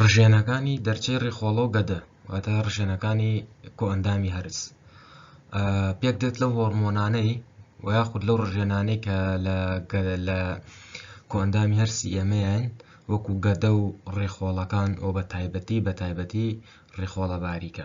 ڕژێنەکانی دەرچەی ڕیخۆڵە و گەدە واتە ڕژێنەکانی کۆئەندامی هەرس پێک دێت لەو هۆرمۆنانەی و یاخود لەو ڕژێنانەی کە لە کۆئەندامی هەرسی ئێمەیان وەکو گەدە و ڕێخۆڵەکان ئەو بە تایبەتی بە تایبەتی ڕێخۆڵە باریکە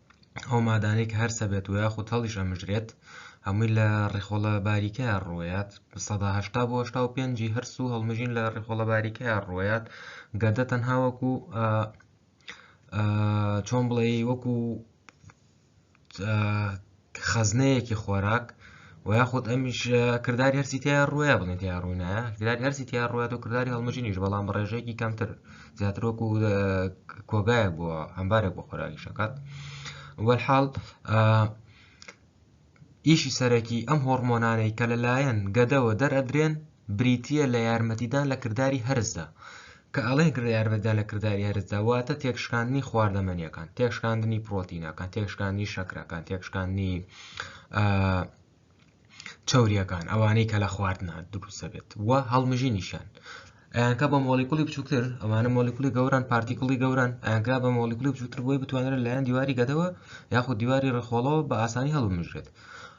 ئەو مادانەی کە هەرسە بێت و یاخود هەڵیش ئەمژرێت هەمووی لە ڕیخۆڵە باریکە ڕوویات سەداهشتا بۆ هشتا و پێنجی هەرس و هەڵمژین لە ڕیخۆڵە باریکە ڕوویات گەدە تەنها وەکو چۆن بڵێ وەکو خەزنەیەکی خۆراک و یاخود ئەمیش کرداری هەرسی تیا ڕووە بڵێن تیا ڕوونە کرداری هەرسی تیا ڕوات و کرداری هەڵمژینیش بەڵام بە ڕێژەیەکی کەمتر زیاتر وەکو کۆگایە بۆ هەمبارێک بۆ خۆراکی شەکات وەحاڵ ئیشی سەرەکی ئەم هۆرمۆنانەی کە لەلایەن گەدەوە دەرئەدرێن بریتە لە یارمەتیدان لە کردداری هەرزدا کە ئەڵێ گرە یارمەتیدان لە کرداری هەرسدا واتە تێکشکاندنی خواردەمەنیەکان تێکشکاندنی پرۆتینەکان تێکشکاندنی شەکرەکان تێکشکاندنی چوریەکان ئەوانەی کە لە خواردنە دروستە بێت و هەڵمژی نیشان ئەیانکە بە مۆلیکولی بچووکتر ئەمانە مۆلیکولی گەوران پارتیکڵی گەوران ئەگرا بە مۆلیکولی بچووتر بۆی بتوانێت لایەن دیواری گەدەوە یاخود دیواری ڕخۆڵەوە بە ئاسانی هەڵمژێت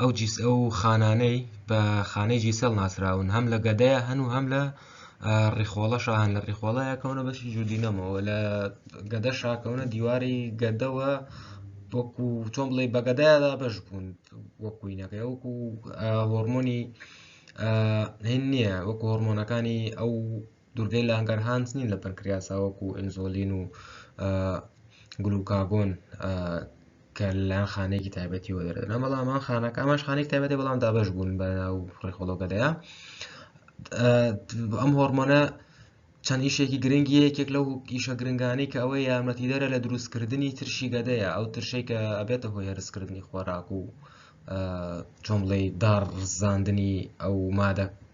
ئەو جیس ئەو خانانەی بە خانەی جیسەڵ ناسراون هەم لە گەدەیە هەن و هەم لە ڕیخۆڵە شان لە ڕیخۆڵەیە کەونە بەشی جودینەمەوە لە گەدە شاکەونە دیواری گەدەوە وەکو چۆن بڵێ بەگەدایدا بەش بوون وەکوینەکەی وەکو هۆرمۆنی هین نییە وەکو هۆرمۆنەکانی ئەو دورگەی لانگەرهانس نین لە پەنکریاسا وەکو ئینزۆلین و گلوکاگۆن کە لەلایەن خانەیەکی تایبەتی وەدەردەنە بەڵام ئەم خانەکە ئەماش خانێک تایبەتی بەڵام دابش بوون بە ناو ڕێخۆڵۆگەدەیە ئەم هۆرمۆنە چەند ئیشێکی گرنگی یەکێک لەو ئیشە گرنگانی کە ئەوەی یارمەتیدەرە لە دروستکردنی ترشی گەدەیە ئەو ترشەی کە ئەبێتە هۆی هەرسکردنی خۆراک و چۆمڵی داڕزاندنی ئەو مادە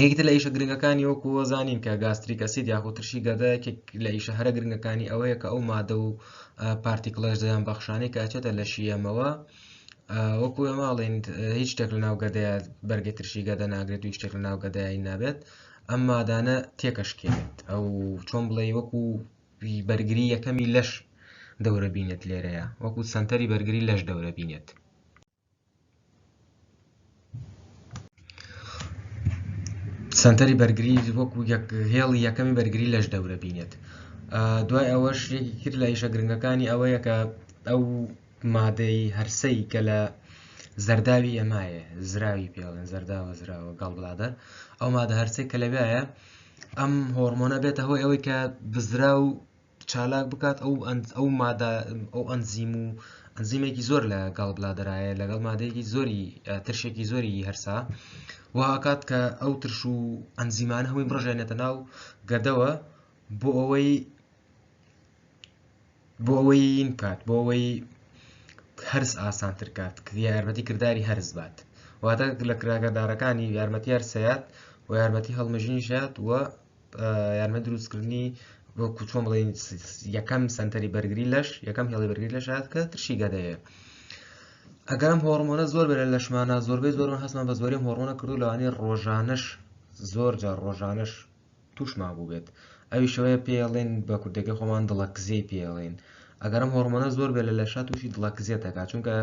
یەکێکتر لە ئیشە گرنگەکانی وەکو زانین کە گاستریک ئەسید یاخود ترشی گەدە یەکێک لە ئیشە هەرە گرنگەکانی ئەوەیە کە ئەو مادە و پارتیکڵەش دەیان بەخشانەی کە ئەچێتە لە شیەمەوە وەکو ئەماڵێن هیچ شتێک لە ناوگەدەیە بەرگی ترشی گەدە ناگرێت و شتێک لە ناوگەدایی نابێت ئەم مادانە تێکەشکێنێت ئەو چۆن بڵێ وەکو بەرگری یەکەمی لەش دەورە بینێت لێرەیە وەکو سنتەری بەرگری لەش دەورە بینێت سەنتەری بەرگری وەکو هێڵی یەکەمی بەرگری لەش دەورە بینێت دوای ئەوە شتێکی کرد لە ئیشە گرنگەکانی ئەوەیە کە ئەو مادەی هەرسەی کە لە زەرداوی ئەمایە زراوی پێڵێن زەرداوە زراوە گەڵ بڵادە ئەو مادە هەرسێک کە لەوێایە ئەم هۆرمۆنە بێتە هۆی ئەوەی کە بزرا و چالاک بکات ئەو ئەو مادە ئەو ئەنزیم و ئەنزیمێکی زۆر لە گەڵ بلادرایە لەگەڵ مادەیەکی زۆری ترشێکی زۆری هەرسا وهکات کە ئەو ترش و ئەنزیمان هەمووی بڕژێنێتە ناو گەدەوە بۆ ئەوەی بۆ ئەوەی بکات بۆ ئەوەی هەرس ئاسانتر کات یارمەتی کردداری هەرز بات واتە لە کراگەدارەکانی یارمەتی هەرسەیات و یارمەتی هەڵمژنی شات و یارمە دروستکردنی وەکو چۆن بڵین یەکەم سنتەری بەرگری لەش یەکەم هێڵی بەرگری لە شاد کە ترشی گەدەیە ئەگەرم هۆڕمۆنە زۆر بەرە لەشمانە زۆربەی زۆر هەستمان بە زۆری هۆڕۆنە کردو لەوانی ڕۆژانش زۆر جا ڕۆژانش توشما بوو بێت ئەوی شەوەیە پێڵێن بە کوردەکە خۆمان دڵەکزی پێڵێن ئەگەرم هۆڕمۆنە زۆر بێت لە لەشا تووشی دڵەکزیێت دەکات چونکە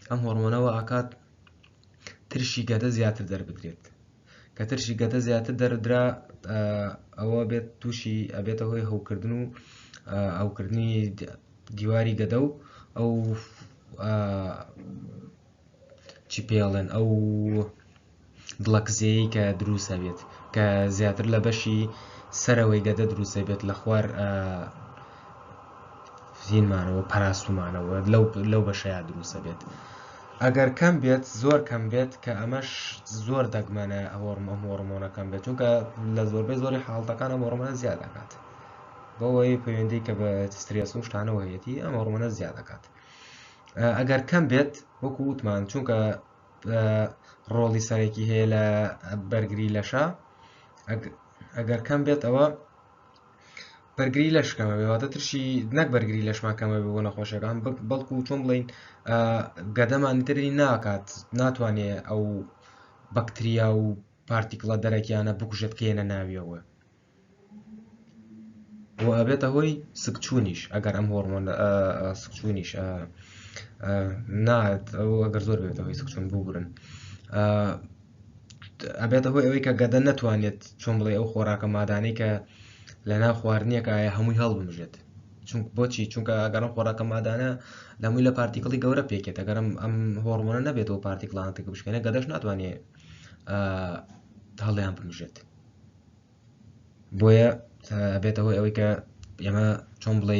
ئەم هۆڕمۆنەوە ئاکات ترشی گەدە زیاتر دەربدرێت کە ترشی گەدە زیاتر دەردرا ئەوە بێت تووشی ئەبێتە هۆی هەوکردن و ئەوکردنی دیواری گەدە و ئەو چی پێڵێن ئەو دڵەکزەیە کە دروستە بێت کە زیاتر لە بەشی سەرەوەی گەدە دروستە بێت لە خوار زینمانەوە پاراستومانەوە لەو لەو بەشەیە دروستە بێت ئەگەر کەم بێت زۆر کەم بێت کە ئەمەش زۆر دەگمەنە هۆرم ئەم هۆرمۆنە کەم بێت چونکە لە زۆربەی زۆری حاڵتەکان ئەم هۆرمۆنە زیاد دەکات بەوەی پەیوەندی کە بە سترێس و شتانەوە هەیەتی ئەم هۆرمۆنە زیاد دەکات ئەگەر کەم بێت وەکو وتمان چونکە ڕۆڵی سەرەکی هەیە لە بەرگری لەشە ئەگەر کەم بێت ئەوە بەرگری لەش کەمەبێ واتە ترشی نەک بەرگری لەشمان کەمەبێ بۆ نەخۆشەکان بەڵکو چۆن بڵین گەدەمان تری ناکات ناتوانێ ئەو بەکتریا و پارتیکڵە دەرەکیانە بکوژێت کێنە ناویەوە و ئەبێتە هۆی سکچوونیش ئەگەر ئەم هۆرمۆن سکچوونیش نات ئەو ئەگەر زۆر بێتەوەی سکچون بگرن ئەبێتە هۆی ئەوەی کە گەدە نەتوانێت چۆن بڵێ ئەو خۆراکە مادانەی کە لە ناو خواردنیەکە ئایا هەمووی هەڵبمژێت چون بۆچی چونکە ئەگەڕم خۆراکە مادانە لەمووی لە پارتیکڵی گەورە پێکێت ئەگەرم ئەم هۆڕمۆنە نەبێتەوە پارتیکلانتێک بشکێنە گەدەش ناتوانێت هەڵیان بمژێت بۆیە ئەبێتە هۆی ئەوەی کە ئێمە چۆن بڵێ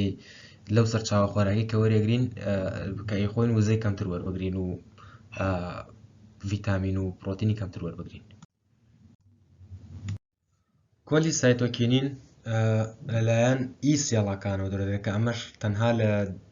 لەو سەر چاوە خۆراکی کە وەرەگرین کە خۆین وزەی کەمتر وەربگرین و ڤیتامین و پرۆتینی کەمتر وەربگرین کۆلی سایتۆکینین لەلایەن ئی سێڵەکانەوە دەێت کە ئەمەش تەنها لە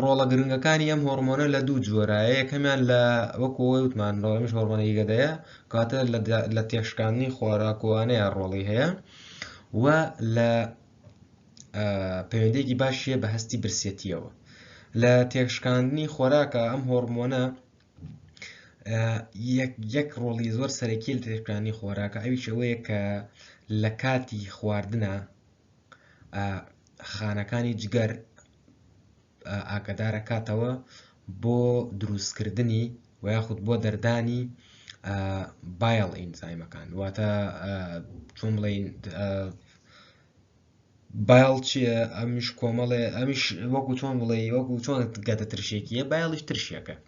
ڕۆڵە گرنگەکانی ئەم هۆرمۆنە لە دوو جۆرە یەکەمیان لە وەکو ئەوەی وتمان ڕۆڵەمیش هۆرمۆنەی گەدەیە کاتە لە تێشکاندنی خۆراکوانەیە ڕۆڵی هەیە و لە پەیوەندێکی باشیە بە هەستی برسێتیەوە لە تێشکاندنی خۆراکە ئەم هۆرمۆنە یەک ڕۆڵی زۆر سەرەکی لە تێشکانی خۆراکە ئەویشەوەیە کە لە کاتی خواردنە خانەکانی جگەر ئاگدارەکاتەوە بۆ دروستکردنی و یاخود بۆ دەردانی بایڵ ئینزایمەکان واتە چۆن بڵین بایڵ چیە ئەمیش کۆمەڵێ ئەمیش وەکو چۆن بڵێ وەکو چۆن گەدە ترشێکیە بایڵیش ترشێکە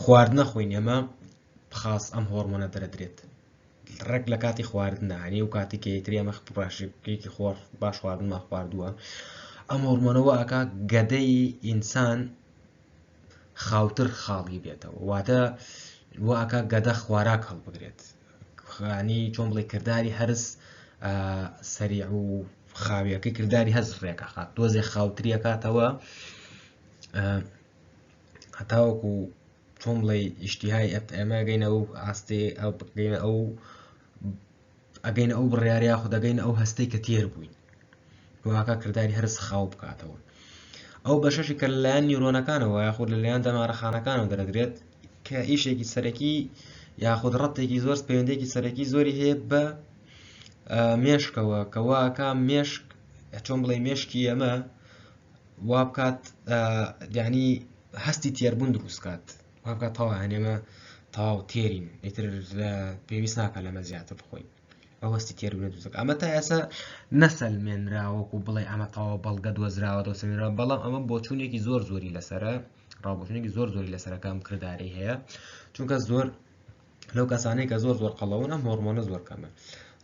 خواردنە خۆی نێمە خاس ئەم هۆرمۆنە دەردرێت ڕێک لە کاتی خواردنە هەنێ و کاتی کەیتری ئەمە بڕاشێکی خۆر باش خواردنمان خواردووە ئەم هۆرمۆنەوە ئەکا گەدەی ئینسان خاوتر خاڵی بێتەوە واتە واکە گەدە خواراک هەڵبگرێت خانی چۆن بڵێ کردداری هەرس سەری و خاویەکە کردداری هەز ڕێکە خات تۆزێ خاوتریەکاتەوە هەتاوەکو چۆن بڵێ ئیشتیهای ئێمە گەینە ئەو ئاستێ گەینە ئەو ئەگەینە ئەو بڕیارە یاخود دەگەینە ئەو هەستەی کە تێر بووین واکە کردداری هەرس خاو بکاتەوە ئەو بەشەشی کە لەلایەن نیرۆنەکانەوە یاخود لەلایەن دەمارەخانەکانەوە دەرەدرێت کە ئیشێکی سەرەکی یاخود ڕەتێکی زۆر پەیوەندێکی سەرەکی زۆری هەیە بە مێشکەوە کەواکە مێشک چۆن بڵێ مێشکی ئەمە وا بکات یعنی هەستی تێربوون دروست کات وا بکات تەوا هەنێمە تەواو تێرین ئیتر پێویست ناکە لەمە زیاتر بخۆین ئەوەستی تێربوون دروست ئەمە تا ئێسا نەسەلمێنرا وەکو بڵێ ئەمە تەوا بەڵگە دۆزراوە دۆسەمێنرا بەڵام ئەمە بۆچوونێکی زۆر زۆری لەسرە ڕاوبژێنێکی زۆر زۆری لەسەرەکەم کردداری هەیە چونکە زۆر لەو کەسانەی کە زۆر زۆر قەڵەون ئەم هۆرمۆنە زۆر کەمە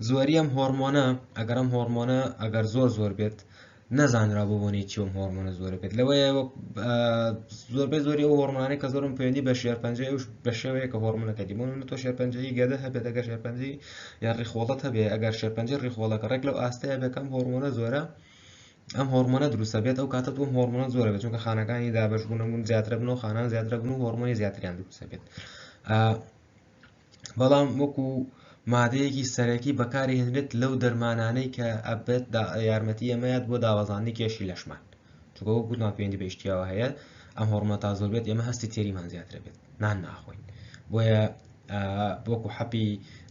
زۆری ئەم هۆرمۆنە ئەگەرم هۆرمۆنە ئەگەر زۆر زۆر بێت نەزانرا بۆ بۆنی چیوم هۆرمۆنە زۆر بێت لەوەیە زۆربەی زۆری ئەو هۆرمۆنانی کە زۆرم پێوەندی بە شێر پنج بە شێوەیە کە هۆرمونەکە دیمون تۆ شێر پنجی گەدە هەبێت ئەگەر شێر پنجی یا ڕیخۆڵەت هەبێ ئەگەر شێر پنج ڕیخۆڵەکە ڕێک لەو ئاستەیە بەکەم هۆرمۆنە زۆرە ئەم هۆرمۆنە دروستە بێت ئەو کاتە دوم هۆرمۆنە زۆرە بێت چونکە خانەکانی دابش بوونەبوون زیاترە بنەوە خانان زیاترە بن و هۆرمۆنی زیاتریان دروستە بێت بەڵام وەکو مادەیەکی سەرەکی بەکاری هێنرێت لەو دەرمانانەی کە ئەبێت یارمەتی ئەمەیات بۆ داوازانانی کێشی لەشمان چکۆ گوتمان پێندی بەشتیاوە هەیە ئەم هۆرمۆن تا زۆر بێت ئێمە هەستی تێریمان زیاتر بێت نان ناخۆین بۆیە وەکو حەپی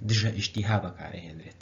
دژە ئیشتیها بەکارهێنرێت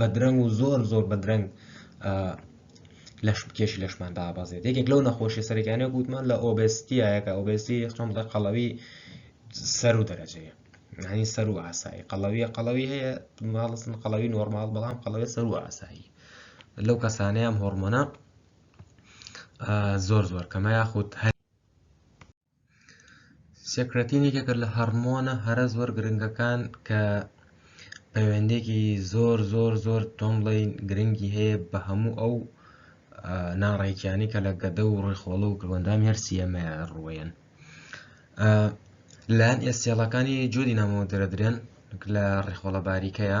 بەدرەنگ و زۆر زۆر بەدرەنگ لەش کێشی لەشمان دابەزێت یەکێک لەو نەخۆشی سەرەکانە گوتمان لە ئۆبستیایەکە ئۆبستی خۆم لە قەڵەوی سەر و دەرەجەیە هەنی سەر و ئاسایی قەڵەویە قەڵەوی هەیە ماڵستن قەڵەوی نۆرمال بەڵام قەڵەوە سەر و ئاسایی لەو کەسانەیەم هۆرمۆنە زۆر زۆر کەمە یاخود هەر سێکرەتین یەکێکە لە هەڕمۆنە هەرە زۆر گرنگەکان کە پەیوەندێکی زۆر زۆر زۆر تۆم بڵین گرنگی هەیە بە هەموو ئەو ناڕێکیانی کە لە گەدە و ڕێخۆڵە و کروەندام هەرسی ئەمە ڕوێن لەلایەن ئێسێڵەکانی جۆری نامەوە دەرەدرێن لە ڕێخۆڵە باریکەیە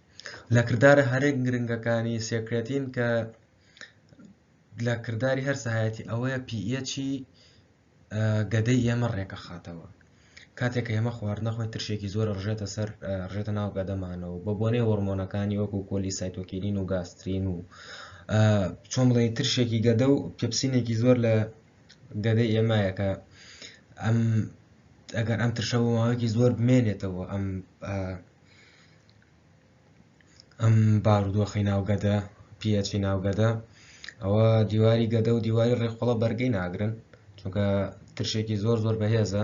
لە کردارە هەرە گرنگەکانی سێکرێتین کە لە کرداری هەر سەهایەتی ئەوەیە پیەچی گەدەی ئێمە ڕێکەخاتەوە کاتێک کە ئێمە خواردنەخۆی ترشێکی زۆر ڕژێتە سەر ڕژێتە ناو گەدەمانەوە بە بۆنەی هۆرمۆنەکانی وەکو کۆلی سایتۆکیلین و گاسترین و چۆن بڵێ ترشێکی گەدە و پپسینێکی زۆر لە گەدەی ئێمایەکە ئەم ئەگەر ئەم ترشە بۆ ماوەیەکی زۆر بمێنێتەوە ئەم ئەم بارودۆخی ناو گەدە پیەچی ناو گەدە ئەوە دیواری گەدە و دیواری ڕێکخۆڵە بەرگەی ناگرن چونکە ترشێکی زۆر زۆر بەهێزە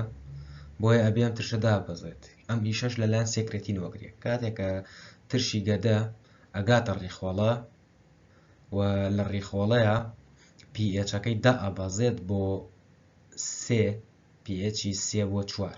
بۆیە ئەبیان ترشە دابەزێت ئەم ئیشەش لەلایەن سێکرێتی نۆگرێت کاتێکە ترشی گەدە ئەگاتە ڕیخۆڵە و لە ڕیخۆڵەیە پیئچەکەی دا ئەبەزێت بۆ سێ پیئچی سێ بۆ چوار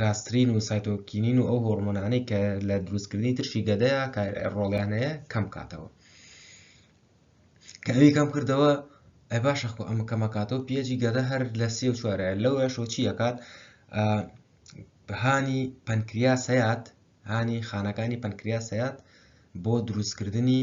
گاسترین و سایتۆکینین و ئەو هۆرمۆنانەی کە لە دروستکردنی ترشی گەدەیە ڕۆڵیان هەیە کەم کاتەوە کە ئەوی کەم کردەوە ئەی باشە خۆ ئەمە کەمەکاتەوە پێجی گەدە هەر لە سێ و چوارە لەو یاشۆ چیەکات هانی پەنکریاس هەیات هانی خانەکانی پەنکریاس هەیات بۆ دروستکردنی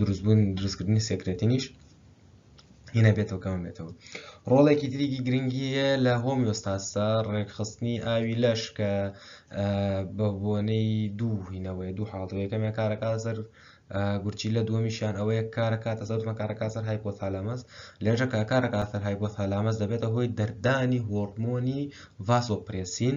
دروستبوون دروستکردنی سێکرێتینیش هینە بێتەوە کەم بێتەوە ڕۆڵێکی تریکی گرنگی هەیە لە هۆمیۆستاستا ڕێکخستنی ئاوی لەش کە بە بۆنەی دوو هینەوەی دوو حاڵەتەوەی کەمێ کارەکە سەر گورچی لە دووەمیشیان ئەوەیە کارەکات ئەزەوتمە کارەکە سەر هایپۆثالامەس لێژە کە کارەکە سەر هایپۆثالامەس دەبێتە هۆی دەردانی هۆرمۆنی ڤاسۆپرسین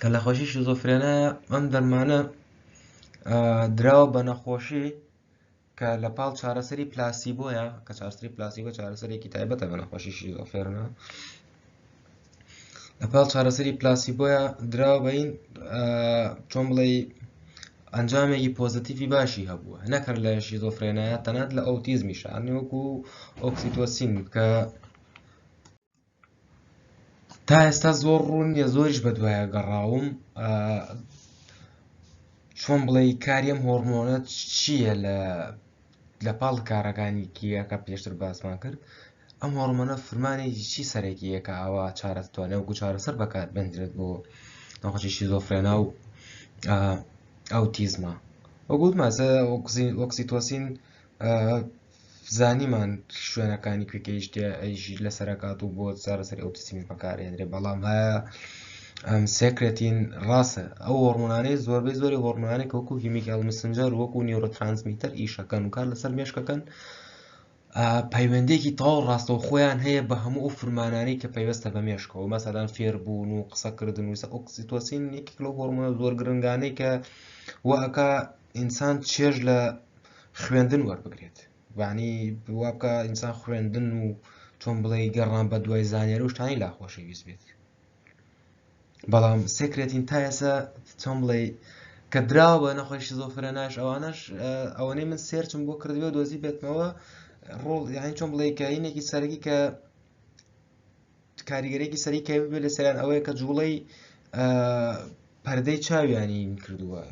کە نەخۆشی شیزۆفرێنایە ئەم دەرمانە دراوە بە نەخۆشی کە لە پاڵ چارەسەری پلاسی بۆیە کە چارسری پلاسی بۆ چارەسەرێکی تایبەتە بە نەخۆشی شیزۆفێرنە لە پاڵ چارەسەری پلاسی بۆیە دراوە بەین چۆن بڵێ ئەنجامێکی پۆزتیفی باشی هەبووە نەکرد لە شیزۆفرێنایە تەنات لە ئەوتیزمی شانێوەکو ئۆکسیتۆسین کە تا ئێستا زۆر ڕوون نیە زۆریش بە دوایە گەڕاوم چۆن بڵێ کاریم هۆرمۆنە چییە لە لە پاڵ کارەکانی کیەکە پێشتر باسمان کرد ئەم هۆرمۆنە فرمانی چی سەرەکیە کە ئاوا چارەتوانە وەکو چارەسەر بەکار بنرێت بۆ نەخۆشی شیزۆفرێنا و ئەو تیزمە وەگووت مازە ئۆکسیتۆسین زانیمان شوێنەکانی کوێ گەیشتێ ئەیژیر لەسەر ئەکات و بۆ چارەسەری ئەوتیسمی بەکارهێنرێ بەڵام هەیە ئەم سێکرێتین ڕاستە ئەو هۆرمۆنانەی زۆربەی زۆری هۆرمۆنانێک وەکو هیمیکال مسنجەر وەکو نیورۆترانسمیتەر ئیشەکەن و کار لەسەر مێشکەکەن پەیوەندێکی تاو ڕاستەو خۆیان هەیە بە هەموو ئەو فرمانانەی کە پەیوەستە بە مێشکەوە مەسەدان فێربوون و قسەکردن وسە ئۆکسیتۆسین یەکێک لەو هۆرمۆنە زۆر گرنگانەی کە وەکە ئینسان چێژ لە خوێندن وەربگرێت بانی وابکە ئینسان خوێندن و چۆن بڵێ گەڕان بە دوای زانێر و شتانی لا خۆشەویست بێت بەڵام سکرێتین تا ئێسا چۆن بڵێ کە دراوە بە نەخۆی شیزۆفرە ناش ئەوانش ئەوەی من سێرچم بۆ کردوێ دۆزی بێتمەوە ڕۆڵ یاین چۆن بڵێ کەینێکی سەرگی کە کاریگەرێکی سەری کە بێ لە سەران ئەوەیە کە جوڵەی پەردەی چاویانی کردووە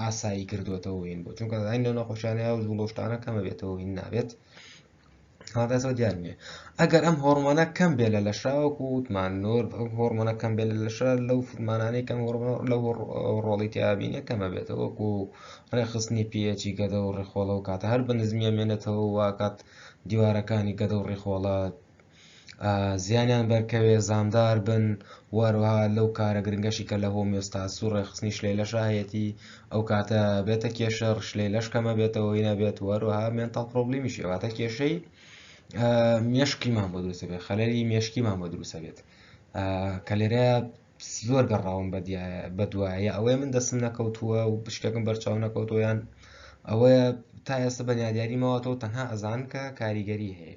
ئاسایی کردوێتەوەین بۆ چونکە زین لە نەخۆشیانە و جوڵۆشتانە کەمە بێتەوە هین نابێت هاداسەوە دیار نیە ئەگەر ئەم هۆرمۆنە کەم بێ لە لەشاوەکو وتمان نۆر هۆرمۆنە کەم بێ لە لەشە لەو فرمانانەی کەم لەو ڕۆڵی تیابینە کەمە بێتەوەکو ڕێخستنی پێچی گەدە و ڕێخۆڵە و کاتە هەر بە نزمیە مێنێتەوە واکات دیوارەکانی گەدە و ڕێخۆڵە زیانیان بەرکەوێ زامدار بن و هەروەها لەو کارە گرنگەشی کە لە هۆمیۆستاس و ڕێکخستنی شلەی لەشا هەیەتی ئەو کاتە بێتە کێشە ڕشلەی لەش کەمە بێتەوە هی نابێت و هەروەها مێنتاڵ پرۆبلیمی شێواتە کێشەی مێشکیمان بۆ دروستە بێت خەلەری مێشکیمان بۆ دروستە بێت کە لێرە زۆر گەڕاوم بە بە دوایە ئەوەیە من دەستم نەکەوتووە و بشتێکم بەرچاو نەکەوتۆیان ئەوەیە تا ئێستا بەنیادیاری ماوەتەوە تەنها ئەزان کە کاریگەری هەیە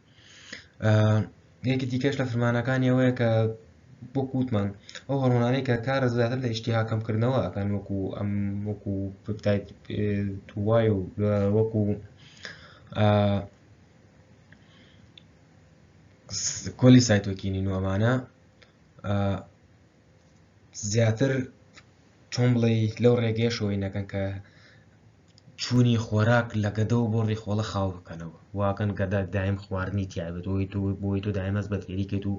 یەکی دیکەش لە فرمانەکانی ئەوەیە کە بۆ کووتمان ئەو هەڕۆنانەی کە کارە زیاتر لە ئیشتیها کەم کردنەوە ئەکەن وەکو ئەم وەکو پپتایت توای و وەکو کۆلی سایتۆکینی نوۆمانە زیاتر چۆن بڵێ لەو ڕێگەیە شۆی نەکەن کە چوونی خۆراک لە گەدەەوە بۆ ڕیخۆڵە خاو بکەنەوە واکەن گەدا دایم خواردنی تیاێت بۆی تو بۆی تو دایمەز بە تێریکێت و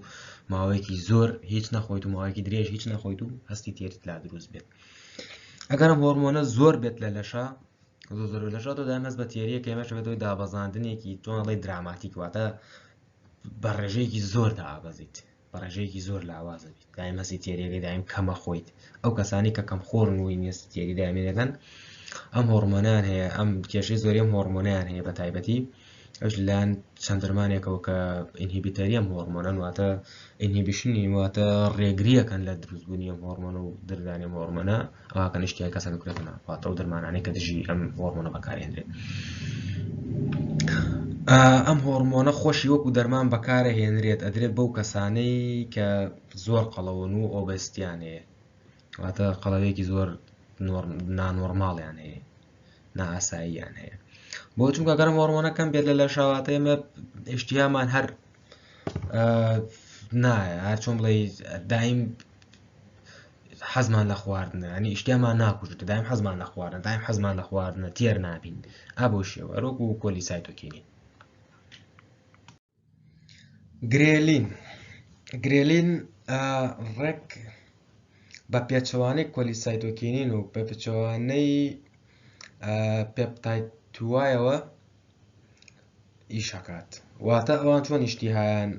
ماوەیەکی زۆر هیچ نەخۆیت و ماوەیەکی درێژ هیچ نەخۆیت و هەستی تێریت لا دروست بێت ئەگەرم هۆرمۆنە زۆر بێت لە لەشە زۆر لەشە تۆ دایمەز بە تێریە کەمەش بێتەوەی دابەزاندنێکی تۆنەڵی دراماتیک واتە بە ڕێژەیەکی زۆر دابەزیت بە ڕێژەیەکی زۆر لاوازە بیت دایم هەستی تێریەکەی دایم کەمە خۆیت ئەو کەسانی کە کەم خۆرن و ئینگلیسی تێری دامێنەکەن ئەم هۆرمۆنیان هەیە ئەم کێشەی زۆری ئەم هۆرمۆنیان هەیە بە تایبەتی ئەوش لەلاەن چەند درمانێکەوە کە ئینهیبیتەری ئەم هۆرمۆنەن واتە ئینهیبیشنی واتە ڕێگریەکەن لە دروستبوونی ئەم هۆرمۆن و دردانی هۆرمۆنە ئەوا کەنیشتی ئەم کەسە بکرێتە ناو واتە ئەو دەرمانانەی کە دژی ئەم هۆرمۆنە بەکارهێنرێت ئەم هۆرمۆنە خۆشی وەکو دەرمان بەکارە هێنرێت ئەدرێت بەو کەسانەی کە زۆر قەڵەون و ئۆبستیان هەیە واتە قەڵەوێکی زۆر نانۆرماڵیان هەیە نائاساییان هەیە بۆ چونکە گەرم هۆرمۆنەکەم بێت لە لە شاواتە ئێمە ئشتیامان هەر نا هەرچۆن بڵێ دایم حەزمان لە خواردنە ئەنی ئیشتیامان ناکوژێت دایم حەزمان لە خواردن دایم حەزمان لە خواردنە تێر نابین ئابۆ شێوە ڕۆک و کۆلی سایتۆکینی گرێلین گرێلین ڕێک بە پێچەوانەی کۆلی سایتۆکینین و بە پێچەوانەی پێپتای توایەوە ئیش ئەکات واتە ئەوان چۆن ئیشتیهایان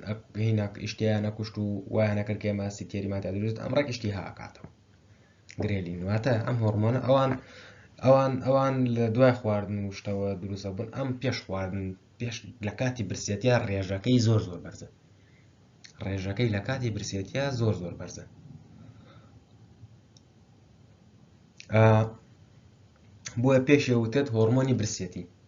هینەک ئیشتیان ئەکوشت و وایانە کرد کێ ماسی تێریمادا دروست ئەم ڕێک ئیشتیها ئەکاتەوە گرێلین واتە ئەم هۆرمۆنە ئەوان ئەوان ئەوان لە دوای خواردن وشتەوە دروستە بن ئەم پێش خواردن پێش لە کاتی برسێتیا ڕێژەکەی زۆر زۆر بەرزە ڕێژەکەی لە کاتی برسێتیا زۆر زۆر بەرزە بۆیە پێشێ وتێت هۆرمۆنی برسێتی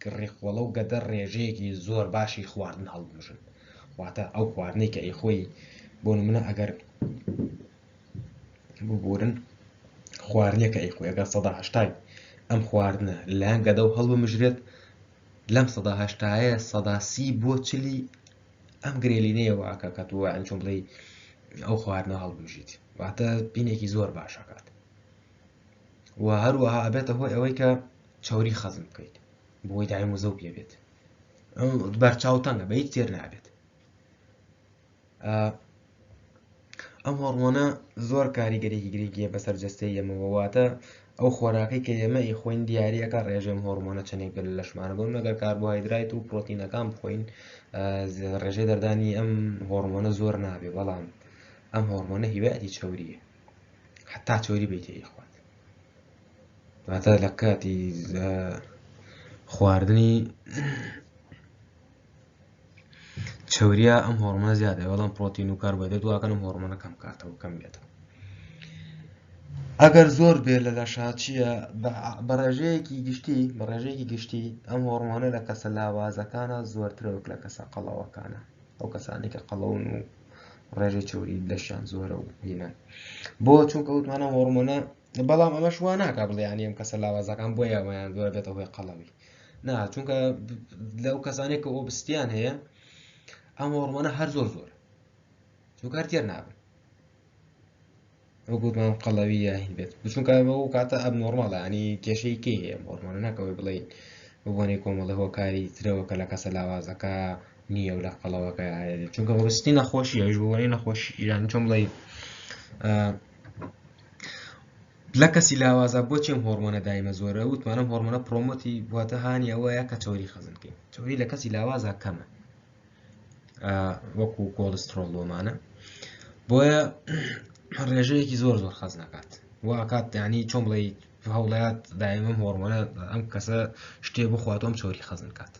کە ڕیقوەڵە و گەدە ڕێژەیەکی زۆر باشی خواردن هەڵبمژن واتە ئەو خواردنەی کە ئەیخۆی بۆ نمونە ئەگەر ببورن خواردنەکە ئەیخۆی ئەگەر سەدا هەشتای ئەم خواردنە لەیان گەدە و هەڵبمژرێت لەم سەدا هەشتایە سەدا سی بۆ چلی ئەم گرێلینەیە واکە کە تۆ ئەنچۆم بڵێ ئەو خواردنە هەڵبژیت واتە پینێکی زۆر باشەکات و هەروەها ئەبێتە هۆی ئەوەی کە چەوری خەزن بکەیت بۆی دایم وزە و پێ بێت بەرچاو تەنگە بە هیچ تێر نابێت ئەم هۆڕمۆنە زۆر کاریگەرێکی گرنگیە بەسەر جستەی ئەمەوەواتە ئەو خۆراکەی کە ئێمە ئی خۆین دیارەکە ڕێژێم هۆرمۆنە چەندێک دل لەشمانە بۆن نەگەر کاربۆهایدرایت و پرۆتینەکان بخۆین ڕێژەی دەردانی ئەم هۆرمۆنە زۆر نابێ بەڵام ئەم هۆرمۆنە هیواتی چوریە حتا چوری بیتێ یخوات واتا لە کاتی خواردنی چەوریا ئەم هۆڕمە زیادە بەڵام پرۆتین و کاربەدەت واکەن ئەم هۆڕمەە کەم کاتەوە کەم بێتەوە ئەگەر زۆر بێ لە لە شاچیە بە ڕێژەیەکی گشتی بە ڕێژەیەکی گشتی ئەم هۆڕمۆنە لە کەسە لاوازەکانە زۆرترەوەک لە کەسە قەڵەوەکانە ئەو کەسانی کە قەڵەون و ڕێژەی چوری لەشیان زۆرە و هینە بۆ چونکە وتمانە هۆڕمۆنە بەڵام ئەمەش وا ناکە بڵیانی ئەم کەسە لاوازەکان بۆ یاوەیان دوای بێتە هۆی قەڵەوی نا چونکە لەو کەسانێک کە ئۆبستیان هەیە ئەم هۆڕمانە هەر زۆر زۆر چونکار تێر نابن وەگوتمان قەڵەوی یاهین بێت بچونکە بە و کاتە ئەب نۆرماڵە ینی کێشەی کێ هەیە هۆرمانە ناکەوەی بڵین بۆنی کۆمەڵە هۆکاری ترەوە کە لە کەسە لاوازەکە نییە و لە قەڵەوەکە چونکە هۆستی نەخۆشی ئەوش بۆنی نەخۆشی ئیران چۆن بڵێ لە کەسی لاوازە بۆچی ئەم هۆڕمۆنە دایمە زۆرە وتمان ئەم هۆڕمۆنە پرۆمۆتی واتە هانی ئەوەیە کە چۆری خەزن بکەین چۆری لە کەسی لاوازە کەمە وەکو کۆلسترۆڵ لۆمانە بۆیە ڕێژەیەکی زۆر زۆر خەز نکات واکات دانی چۆن بڵێ هەوڵات دایمم هۆڕمۆنە ئەم کەسە شتێ بخوات ئەم چۆری خەزن کات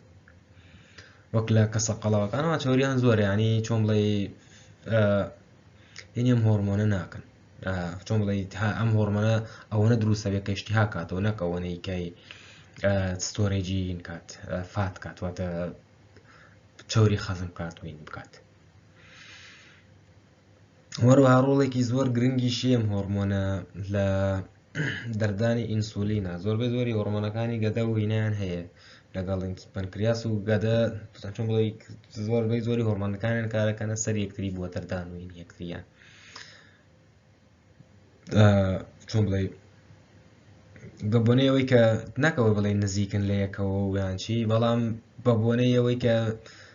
وەک لە کەسە قەڵەوەکانەوە چۆریان زۆر ینی چۆن بڵێ هینیەم هۆرمۆنە ناکەن چۆن بڵێیت ها ئەم هۆرمەنە ئەوەنە دروستە بێت کە اشتها کاتەوە نەک ئەوەنەی کای ستۆرێجی کات فات کات واتە چوری خەزم کات وین بکات وەروها ڕۆڵێکی زۆر گرنگی شێم هۆرمۆنە لە دەردانی ئینسولینە زۆربەی زۆری هۆرمۆنەکانی گەدە و هینایان هەیە لەگەڵ پەنکریاس و گەدە چۆن بڵی زۆربەی زۆری هۆرمۆنەکانیان کارەکەنە سەر یەکتری بووە دەردان و یەکتریان چۆن بڵێ بە بۆنەی ئەوەی کە ناکەەوە بڵێ نزیکن لە یەکەوە ویانچی بەڵام بە بۆنەی ئەوەی کە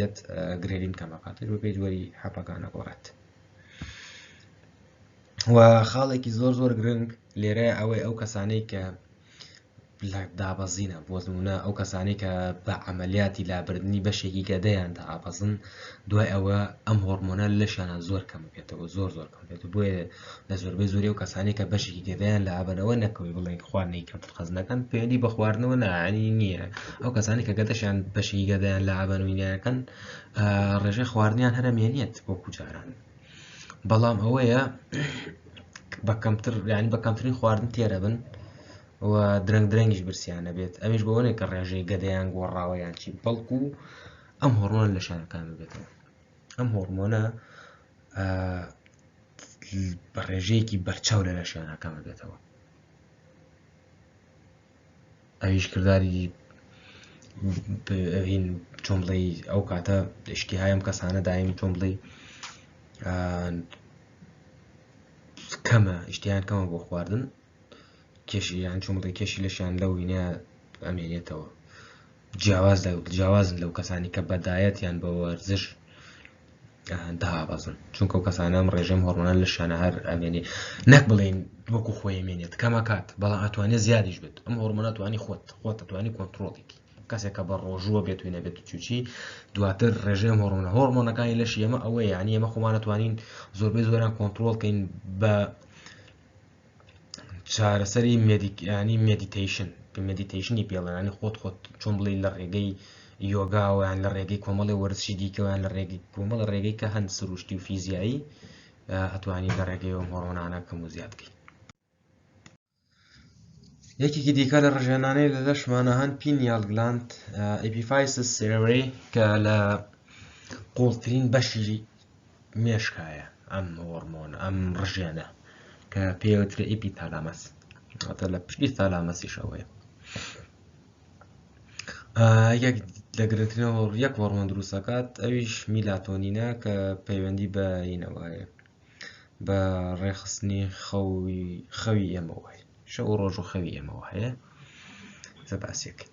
یەت گرێدین کەمە قاتر بە پێی وەری حەپەکان ئەگۆڕێت و خاڵێکی زۆر زۆر گرنگ لێرە ئەوەی ئەو کەسانەی کە دابەزینە بۆزمونە ئەو کەسانی کە بە عملیاتی لابردنی بەشێکی گەدەیان دابەزن دوای ئەوە ئەم هۆرمۆنە لەشانە زۆر کەم بێتەوە زۆر زۆر کەم بێت بۆیە لە زۆربەی زۆری ئەو کەسانەی کە بەشێکی گەدەیان لە ئابەرەوە نەکەوی بڵێن خواردنی کەمتر خەز نەکەن پەیوەندی بە خواردنەوە نانی نییە ئەو کەسانی کە گەدەشیان بەشی گەدەیان لە ئابەنوینەکەن ڕێژە خواردنیان هەرە مێنێت بۆ کوجاران بەڵام ئەوەیە بە کەمتر ینی بە کەمترین خواردن تێرە بن و درەنگ درەنگیش برسیانە بێت ئەویش بەوەێک کە ڕێژەی گەدەیان گۆڕاوەیان چی بەڵکو و ئەم هۆڕۆن لە شارەکان بێتەوە ئەم هۆرمۆنە بە ڕێژەیەکی بەرچاو لە لەشیان ئاکامە بێتەوە ئەویش کردداری چۆن بڵێ ئەو کاتە دشتی هایم کەسانە دایم چۆن بڵێ کەمە شتیان کەمە بۆ خواردن کێشی یان چۆن بڵێ کێشی لەشیان لەو وینە ئەمێنێتەوە جیاواز لە جیاوازن لەو کەسانی کە بەدایەت یان بە وەرزش دابەزن چونکە و کەسانم ڕێژەم هۆرمۆنان لە شانە هەر ئەمێنێ نەک بڵێن وەکو خۆی مێنێت کەمەکات بەڵام ئەتوانێت زیادیش بێت ئەم هۆرمۆناتوانی خۆت خۆت دەتوانانی کۆنتترۆڵێکی کەسێکە بە ڕۆژووە بێت و نەبێت چوچی دواتر ڕێژێم هۆرمۆنە هۆرمۆنەکانی لەش ئێمە ئەوەیە یعنی ئێمە خۆمانەتوانین زۆربەی زۆران کۆنتترۆڵکەین بە چارەسەری مێدیکیانی مێدیتیشن کە مێدیتیشنی پێڵێنانی خۆت خۆت چۆن بڵی لە ڕێگەی یۆگاوەیان لە ڕێگەی کۆمەڵی وەرزشی دیکەوەیان لە ڕێگەی کۆمەڵە ڕێگەی کە هەند سروشتی و فیزیایی ئەتوانی لە ڕێگەی و هۆڕۆنانە کەم و زیاد بکەیت یەکێکی دیکە لە ڕژێنانەی لە لەشمانە هەن پینیال گلاند ئەپیفایس سێری کە لە قوڵترین بەشی مێشکایە ئەم هۆرمۆن ئەم ڕژێنە کە پێوترە ئیپی تالامەس ئەتە لە پشتی تالامەسیشەوەی یەک لە گرنگترینەوە یەک هۆرمۆن دروستەکات ئەویش میلاتۆنینە کە پەیوەندی بە ینەوەیە بە ڕێخستنی خەوی خەوی ئێمەوە شەو ڕۆژ و خەوی ئێمەوە هەیە زە باسیەکەین